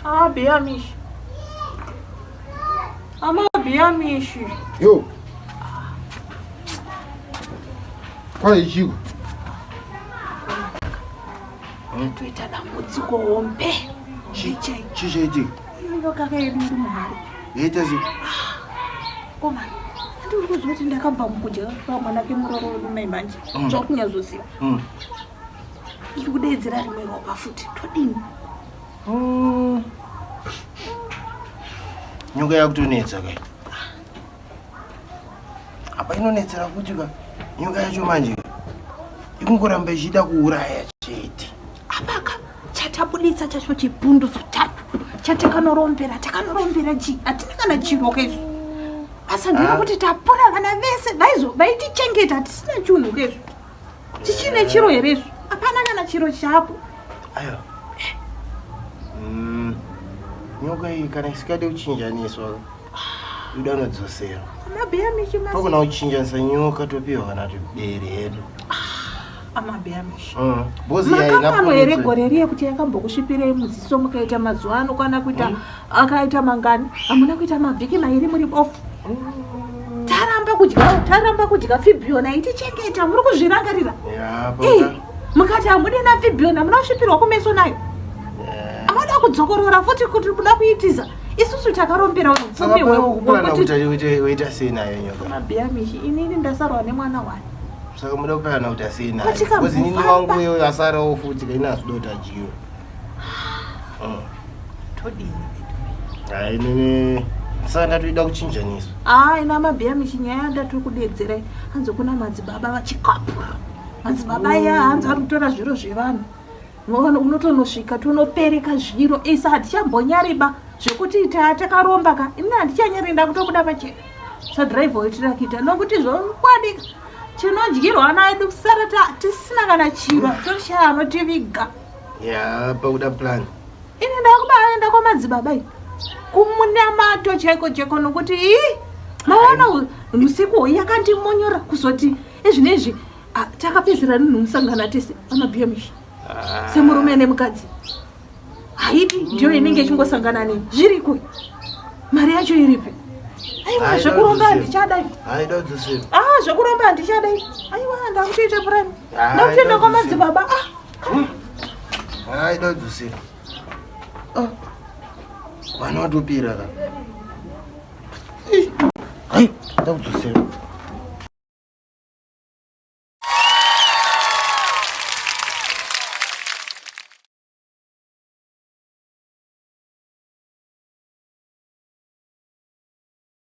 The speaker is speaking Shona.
Abi, Amish. Amabiyamishi. Yo. Kwa ichiwa. Toita dambudziko hombe. Chichai. Chichai chii? Iyo kaka yedu iri muhari. Yaita sei? Koma. Ndiri kuzwa kuti ndakabva mukudya pamwana kemuroro wedu mai manje. Mm. Zvakunyazoziva. Mm. Iri kudeedzera rimwe ropa futi. Todini? nyoka yakutonetsa kai apa inonetsera kuti ka nyoka yacho manje ikungoramba ichida kuuraya chete apaka chatabuditsa chacho chibhundu zotatu chatakanorombera takanorombera chi hatina kana chiro kezvo asi ndiri ah. kuti tapora vana vese vaitichengeta hatisina chunhu kezvo chichine chiro here izvo hapana kana chiro chapo ayo mm, nyoka iyi kana isikade kuchinjaniswa ida unodzosera amabheya mishi pakuna kuchinjanisa nyoka topiwa kana tiberi hedu amabheya mishi mm, makambano here gore riye kuti yakambokusvipirei muziso mukaita mazuva ano kwana kuita mm. akaita mangani hamuna kuita mavhiki mairi muri bofu taramba kudya taramba kudya fibhiona itichengeta muri kuzvirangarira mukati hamude na fibhiona muna kusvipirwa kumeso nayo amada kudzokorora futi kuti kuda kuitiza isusu takarombera upfumi hwekuita sei nayo nyoka mabhiya mishi inini ndasarwa nemwana wani saka muda kupirana kuti asei nayo bcoz inini wangu uyo asarawo futi kaina azidotajiwa Mm. Todini veduwe. Hayi nini saka ndatoida kuchinjaniswa. Ah, ina mabhiya michinyaya ndatiri kudedzera hanzi kuna madzibaba vachikapura. Madzibaba mm. ya hanzi ari kutora zviro zvevanhu. Ngoona unotonosvika tonopereka zviro isa hatichambonyariba zvekuti ita takaromba ka ini handichanyari ndakutobuda pachena. Sadriver wetira kuita nokuti zvokwadika tinodyirwa naye kusara tisina kana chiro toshaya anotiviga ya pakuda plan ini ndakubaenda kwamadzibaba i kumunamato chaiko chaiko nokuti i maona usiku hoyi yakandimonyora kuzoti ezvinezvi takapedzera nunhu musangana tese amabiyamishi ah. semurume nemukadzi haidi ndiyo inenge ichingosangana nei zviriko mari yacho iripi aiwa zvekuromba handichadai ah zvekuromba handichadai aiwa ndakutoita purani ndakutoenda kwamadzibaba ah Hmm. Aida kudzosera. Ah. Vana vatopira ka. Hai, aida kudzosera.